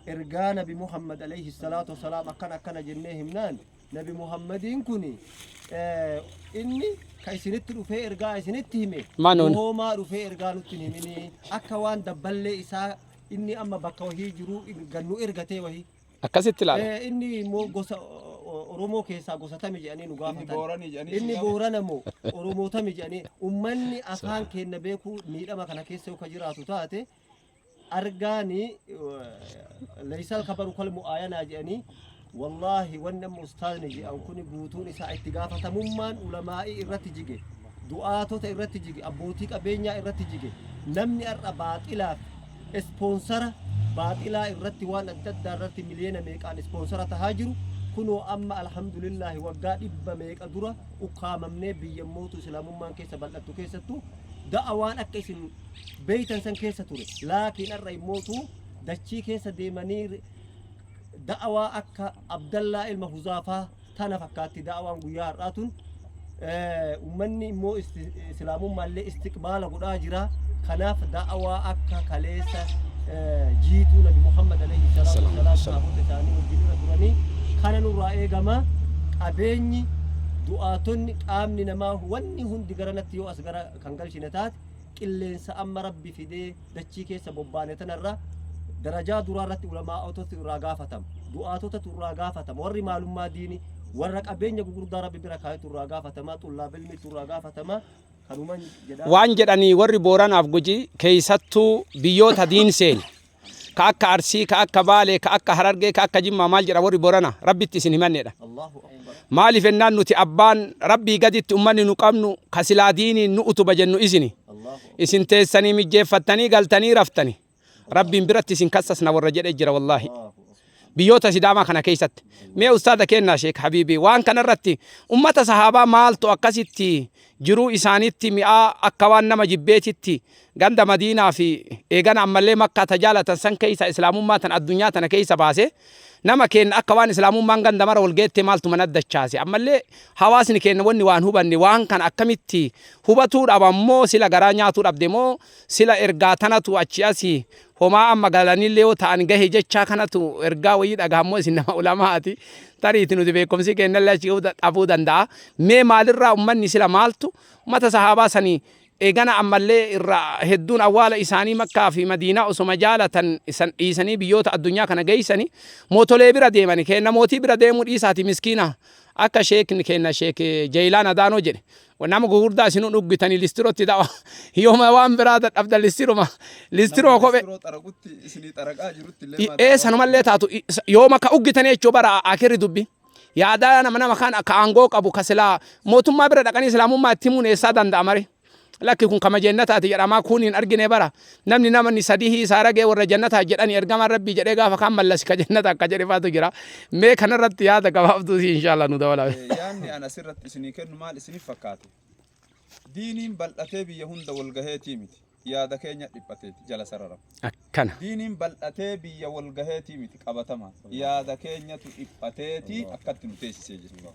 Ergaa Nabi Muhammad alayhi salaatu wasalaam akkana akkana jennee himnaan Nabi Muhammadiin kun inni ka isinitti dhufee ergaa isinitti hime Maanoon. hoomaa dhufee ergaa nutti hin himinii akka waan dabballee isaa inni amma bakka wahii jiru gannu ergatee wahii Akkasitti ilaala. Eh, inni immoo gosa o- o- Oromoo keessaa gosa tami jedhanii nu gaafatan. Booranii jedhanii Inni Boorana moo Oromoo tami jedhanii ummanni afaan keenya beeku miidhama kana keessa yoo ka jiraatu taate argaani laysal kabaru kal mu'aayanaa jedhanii wallaahi wanni amma ustaazni jedhan kuni guutuun isaa itti gaafatamummaan ulamaa'ii irratti jige du'aatota irratti jige abbootii qabeenyaa irratti jige namni har'a baaxilaaf ispoonsara baaxilaa irratti waan adda addaa irratti miliyoona meeqaan ispoonsara tahaa jiru kunoo amma alhamdulillaahi waggaa dhibba meeqa dura ukkaamamnee biyya mootu islaamummaan keessa bal'attu keessattu da'a waan akka isin beeytan san keessa ture laakiin har'a immootu dachii keessa deemanii da'awaa akka abdallaa ilma huzaafaa tana fakkaatti da'awaan guyyaa har'aa tun ummanni immoo islaamummaallee istiqbaala godhaa jira kanaaf da'awaa akka kaleessa jiituu nabi muhammad alayhi salaatu wasalaam saabota isaanii wajjin irra turanii kana nurraa eegama qabeenyi du'aatonni qaamni namaa wanni hundi garanatti yoo as gara kan galchine taate qilleensa amma rabbi fidee dachii keessa bobbaane tanarra darajaa duraa irratti ulamaa'otatu irraa gaafatama du'aatotatu irraa gaafatama warri maalummaa diini warra qabeenya gugurdaa rabbi bira kaayetu irraa gaafatama xullaab ilmiitu irraa gaafatama kanuman jedha waan jedhanii warri booranaaf guji keeysattuu biyyoota diin seene ka akka Arsii, ka akka Baalee, ka akka Harargee, ka akka Jimmaa maal jedha warri Borana Rabbitti isin himanneedha. Maaliif ennaan nuti abbaan Rabbii gaditti ummanni nu qabnu ka silaa diiniin nu utuba jennu isini. Isin teessanii mijjeeffattanii galtanii raftani. Rabbiin biratti isin kassasna warra jedhe jira wallaahi. biyyoota sidaamaa kana keessatti mee ustaada keenna sheek habiibii waan kana irratti ummata sahaabaa maaltu akkasitti jiruu isaanitti mi'aa akka waan nama jibbeetitti ganda madiinaa fi eegana ammallee makkaa tajaalatan san keessa islaamummaa tan addunyaa tana keessa baase nama keenna akka waan islaamummaan ganda mara walgeettee maaltu mana dachaase ammallee hawaasni keenna wanni waan hubanne waan kana akkamitti hubatuu dhaban moo sila garaa nyaatuu dhabde moo sila ergaa tanatu achi asii Homaa amma galanillee yoo ta'an gahe jechaa kanatu ergaa wayii dhagahammoo isin nama ulamaati tariiti nuti beekumsi keennallee achi ga'uu da- dhabuu danda'a. Mee maalirraa ummanni sila maaltu ummata sahaabaa sanii eegana ammallee irra hedduun awwaala isaanii makkaa fi madiinaa osoma jaalatan isan dhiisanii biyyoota addunyaa kana geeysanii mootolee bira deemani keenna mootii bira deemuu dhiisaati miskiina akka sheekni keenna sheek Jeeylaan Adaanoo jedhe Wanni amma gugurdaa isinuu dhuggitanii listirotti dawa. Yooma waan biraa dadhabdan listiruma. Listiroo kophee. Listiroo xaraqutti isinii xaraqaa jirutti illee maa Ee sanumallee taatu yooma ka uggitanii jechuu bara akirri dubbi. Yaadaa nama nama kaan akka aangoo qabu ka silaa mootummaa bira dhaqanii islaamummaa itti himuun eessaa danda'amare. Lakki kun kama jeennataati jedhamaa kuun hin argine bara. Namni namni sadihii isaa ragee warra jannataa jedhani ergamaan rabbii jedhee gaafa kaan mallasi ka jannata akka jedhe faatu jira. Mee kanarratti yaada gabaabduu si inshaallah nu dabalaa. Yaanni an asirratti isinii kennu maal isinif fakkaate? Diiniin bal'atee biyya hunda wal gaheetii miti. Yaada keenya dhiphateeti jala sararama. Akkana. Diiniin bal'atee biyya wal gaheetii miti qabatama. Yaada keenyatu dhiphateeti akkatti nu teessisee jira.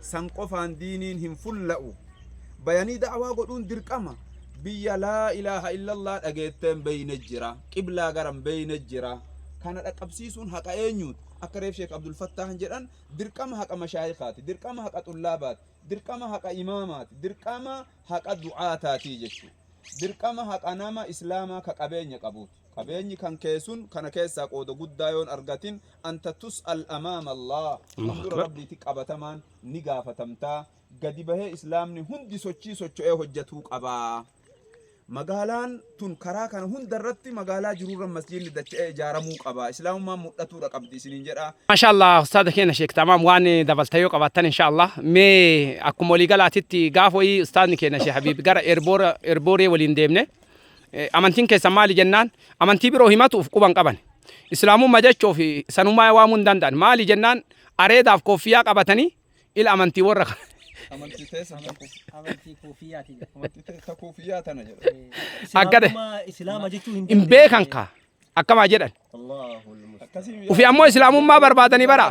San qofaan diiniin hin fulla'u. Bayanii da'awaa godhuun dirqama. Biyya laa ilaaha illallah dhageettee hin beeyne jira. Qiblaa gara hin beeyne jira. Kana dhaqqabsiisuun haqa eenyuuti? Akka reef Sheek Abdul Fattaahan jedhan dirqama haqa mashaayikaati, dirqama haqa xullaabaati, dirqama haqa imaamaati, dirqama haqa du'aataati jechuudha. Dirqama haqa nama Islaamaa ka qabeenya qabuuti. Qabeenyi kan kee sun kana keessaa qooda guddaa yoon argatin anta tus'al amaama Allaah, Allahu fuuldura Akbar. Rabbiitti qabatamaan ni gaafatamta. Gadi bahee Islaamni hundi sochii socho'ee hojjatuu qaba. Magaalaan tun karaa kana hunda irratti magaalaa jiru irra masjiidni dacha'ee ijaaramuu qaba. Islaamummaan mudhatuudha qabdi isiniin jedha. Maashaa Allah ustaaza keenya Sheek Tamaam waan dabalta yoo qabaattan insha Allah mee akkuma walii galaatitti gaaf wayii ustaazni keenya Sheek Habiib gara Erboora- Erbooree waliin deemne Amantiin keessan maali jennaan amantii biroo himatuuf quban qaban. Islaamummaa jechoo fi sanummaa waamuu hin danda'an. Maali jennaan areedaaf kooffiyaa qabatanii ila amantii warra kana. Amantii teessa Amantii koofiyyaati. Amantii teessa koofiyyaa tana jedha. Akkade. Islaama jechuu hin Hin beekan kaa. akkamaa jedhan ufi ammoo islaamummaa barbaadanii bara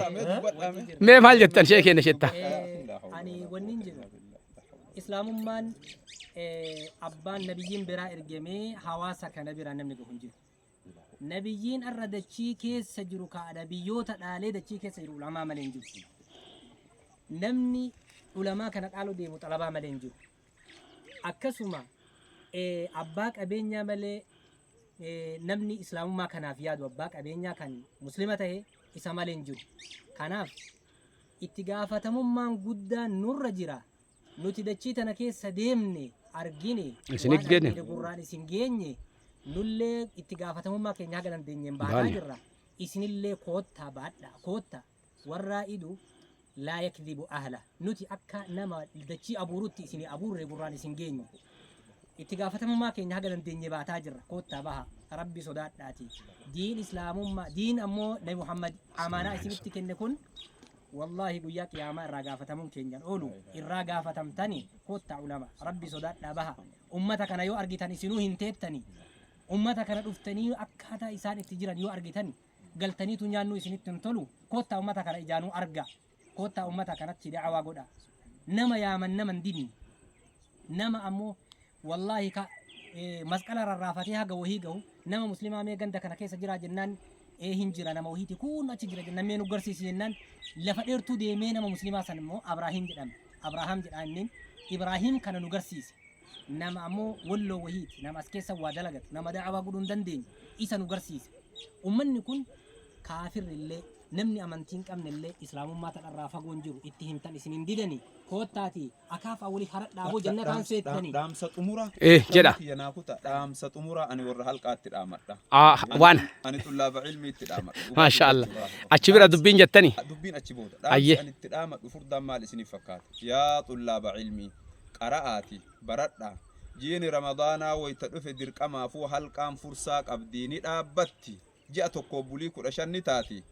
mee maal jettan shee keenya shetta ani wanni hin jedhu islaamummaan eh, abbaan nabiyyiin biraa ergamee hawaasa kana biraa namni gahu hin jiru nabiyyiin arra dachii keessa jiru kaadha biyyoota dhaalee dachii keessa jiru ulamaa malee hin jiru namni ulamaa kana dhaaluu deemu xalabaa malee hin jiru Akkasuma abbaa qabeenyaa malee namni islaamummaa kanaaf yaadu abbaa qabeenyaa kan muslima ta'e isa malee hin jiru. Kanaaf itti gaafatamummaan guddaan nurra jira. Nuti dachii tana keessa deemne argine Isin waan eggene. argine gurraan isin geenye nullee itti gaafatamummaa keenya haga dandeenyeen baataa Baane. jirra. Isinillee koottaa baadhaa koottaa. Warraa'idu laa yakdhibu ahlah. Nuti akka nama dachii abuurutti isin abuurre gurraan isin geenye. Itti gaafatamummaa keenya haga dandeenye baataa jirra. Koottaa baha. Rabbi sodaadhaati. Diin Islaamummaa, diin ammoo Nabi Muhammad amaanaa isinitti kenne kun Wallahi guyyaa qiyaamaa irraa gaafatamuun keenyan oolu irraa gaafatamtani koottaa ulama rabbi sodaadhaa baha ummata kana yoo argitan isinuu hin teettani ummata kana dhuftanii akkaataa isaan itti jiran yoo argitan galtaniitu nyaannuu isinitti hin tolu koottaa ummata kana ijaanuu arga koottaa ummata kanatti da'awaa godha nama yaaman nama hin didne nama ammoo wallaahi ka eh, masqala rarraafatee haga wahii gahu nama muslimaa mee ganda kana keessa jiraa jennaan ee hin jira nama wahiiti kun achi jira jennaan mee nu garsiisi jennaan lafa dheertuu deemee nama muslimaa san immoo abraahiim jedhama abrahaam jedhaa inniin ibraahiim kana nu garsiise nama ammoo walloo wahiiti nama as keessa waa dalagatu nama da'awaa godhuu hin dandeenye isa nu garsiise ummanni kun kaafirri illee namni amantii hin qabne illee islaamummaa tadharraa fagoon jiru itti himtan isin hin didanii koottaati akaafaa waliif haradhaa boo jannataan seettanii Dhaamsa xumuraa. Eh, jedha. Kiyya naa kuta. Dhaamsa xumuraa ani warra halqaatti dhaamadha. Ah, Ani- waan. Ani xullaaba ilmiitti dhaamadha. Dhugaa Maasha Allah. dubbachuudhaaf. Achi bira dubbiin jettani. Dubbiin achi booda. Ayyee. Dhaamsi ani itti dhaamadhu furdaan maal isiniif fakkaata? Yaa xullaaba ilmii. qara'aati baradhaa. Jiini Ramadaanaa wayta dhufe dirqamaafuu halqaan fursaa qabdi, ni dhaabbatti, ji'a tokkoof bulii 15 ni taati.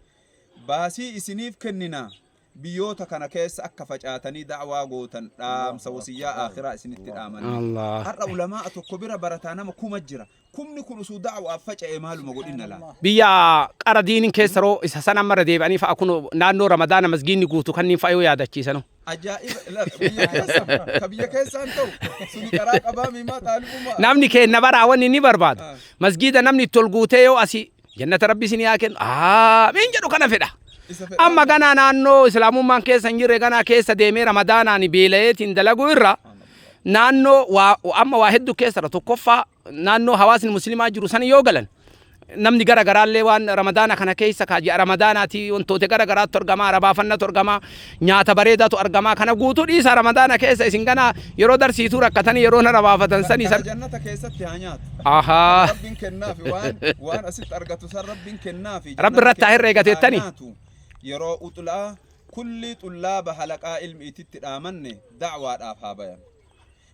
Baasii isiniif kennina, biyyoota kana keessa akka facaatanii da'waa gootan dhaamsa wasiyyaa aakhiraa isinitti dhaamanii. Har'a ulamaa'a tokko bira barataa nama kuma jira. Kumni kun usu da'waaf faca'ee maaluma godhinna laata? Biyya qara diinin keessa ro isa san amma irra deebi'anii fa'a kuno naannoo ramadaana masgiinni guutu kanniin fa'a yoo yaadachiisanu. Ajaa'iba ilala biyya keessa ka biyya keessaan ta'u suni qaraa qabaa miimaa xaalibumaa. Namni keenna baraa wanni inni barbaadu masgiida namni itti ol guutee yoo asi Jannata rabbi isin yaa kennu. Aamiin jedhu kana fedha. Amma ganaa naannoo islaamummaan keessa hin jirre ganaa keessa deemee ramadaanaan beela'eetiin dalaguu irra naannoo waa amma waa hedduu keessadha tokkoffaa naannoo hawaasni muslimaa jiru san yoo galan namni gara garaallee waan ramadaana kana keessa kaaji ramadaanaati wantoota gara garaatu argama arabaafannatu argama Nyaata bareedatu argamaa kana guutuu dhiisaa ramadaana keessa isin ganaa yeroo darsiituu rakkatanii yeroo nara baafatan sanii Bakka san. jannata keessatti haa nyaatu. Kan Ahaa. Rabbiin kennaafi waan waan asitti argatu san Rabbiin kennaafi. Rabbi irratti haa herreegateettani. Haa nyaatu. Yeroo uxlaa kulli xullaaba halaqaa ilmiititti dhaamanne da'waadhaaf haa bayan.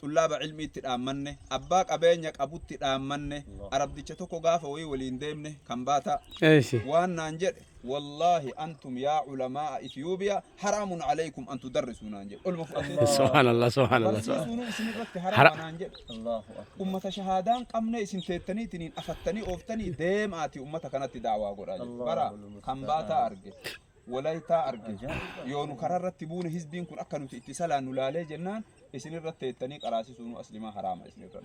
xullaaba ilmiitti dhaammanne, abbaa qabeenya qabutti dhaammanne, arabdicha tokko gaafa wayii waliin deemne kambaataa Eeysi. waan naan jedhe wallaahi antum yaa culamaa'a ethiyoobiyaa haraamun alaykum an tudarrisuu naan jedhe olma fudhadhee Subhanallah, subhanallah. barsiisuunuu isin irratti Hara- haraama naan jedhe Allahu akbar. ummata shahaadaan qabne isin teettaniitiniin afattanii ooftanii deemaati ummata kanatti daawaa godhaa jedhe bara Allahu kan baataa arge walaytaa arge Ajaa'iba. yoo nu karaa irratti buune hizbiin kun akka nuti itti salaannu laalee jennaan isin irra teettanii qaraasisuunuu aslimaa haraama isin irra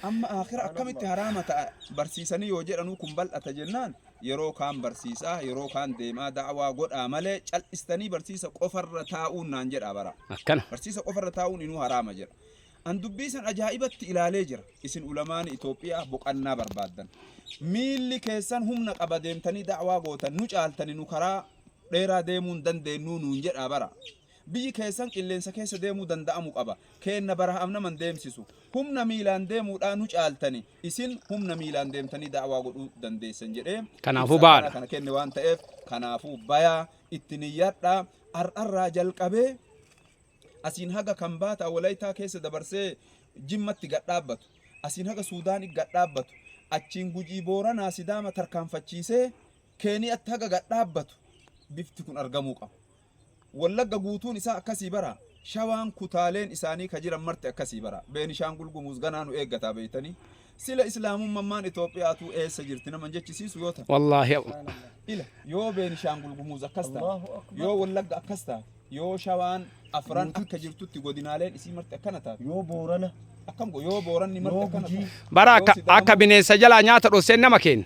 amma akhira akkamitti haraama ta'a barsiisanii yoo jedhanuu kun bal'ata jennaan yeroo kaan barsiisaa yeroo kaan deemaa da'awaa godhaa malee cal'istanii barsiisa qofarra taa'uun naan jedhaa bara akkana barsiisa qofarra taa'uun inuu haraama jedha an dubbii san ajaa'ibatti ilaalee jira isin ulamaani Itoophiyaa boqannaa barbaaddan miilli keessan humna qaba deemtanii da'awaa gootan nu caaltani nu karaa dheeraa deemuun dandeennuu nuun jedhaa bara Biyyi keessan qilleensa keessa deemuu danda'amu qaba. Keenna barahaaf nama hin deemsisu. Humna miilaan deemuudhaa nu caaltani. Isin humna miilaan deemtanii da'awaa godhuu dandeessan jedhee Kanaafuu ibsa bahaa akkanaa dha. kana kenne waan ta'eef kanaafuu bayaa itti niyyadhaa. Har'arraa jalqabee asiin haga Kambaataa Walaytaa keessa dabarsee Jimmatti gad dhaabbatu. Asiin haga Suudaanii gad dhaabbatu. Achiin Gujii Booranaa Sidaama tarkaanfachiisee Keeniyatti haga gad dhaabbatu bifti kun argamuu qaba. Wallagga guutuun isaa akkasii baraa? Shawaan kutaaleen isaanii ka jiran marti akkasii baraa? Beenishaangul Gumuuz ganaa nu eeggataa beeytanii? Sila Islaamummamaan Itoophiyaa tuu eessa jirti nama hin jechisiisu yoo ta. Wallaahi Allah. Ila yoo Beenishaangul Gumuuz akkas taate, yoo Wallagga akkas taate, yoo Shawaan afran akka jirtutti godinaaleen isii marti akkana taate. Yoo Boorana. Akkam go yoo Booranni marti akkana taate. Bara akka akka bineensa jalaa nyaata dhosseen nama keenna.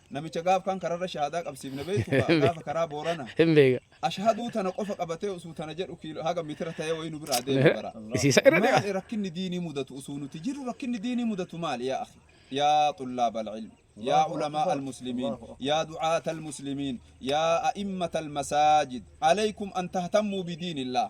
Namicha gaaf kaan kararra shahaadaa qabsiifne beektu kaa gaafa karaa boorana. Hin beeka. Ashhaduu tana qofa qabatee usuu tana jedhu kiilo haga mitira ta'ee wayii nu biraa deema bara. Isiisa irra deema. Maali rakkinni diinii mudatu usuu nuti jirru rakkinni diinii mudatu maali yaa akhi? Yaa xullaab al-ilm. Yaa ulamaa al-muslimiin. Yaa du'aat al-muslimiin. Yaa a'immat al-masaajid. Alaykum an tahtammuu bidiinillaah.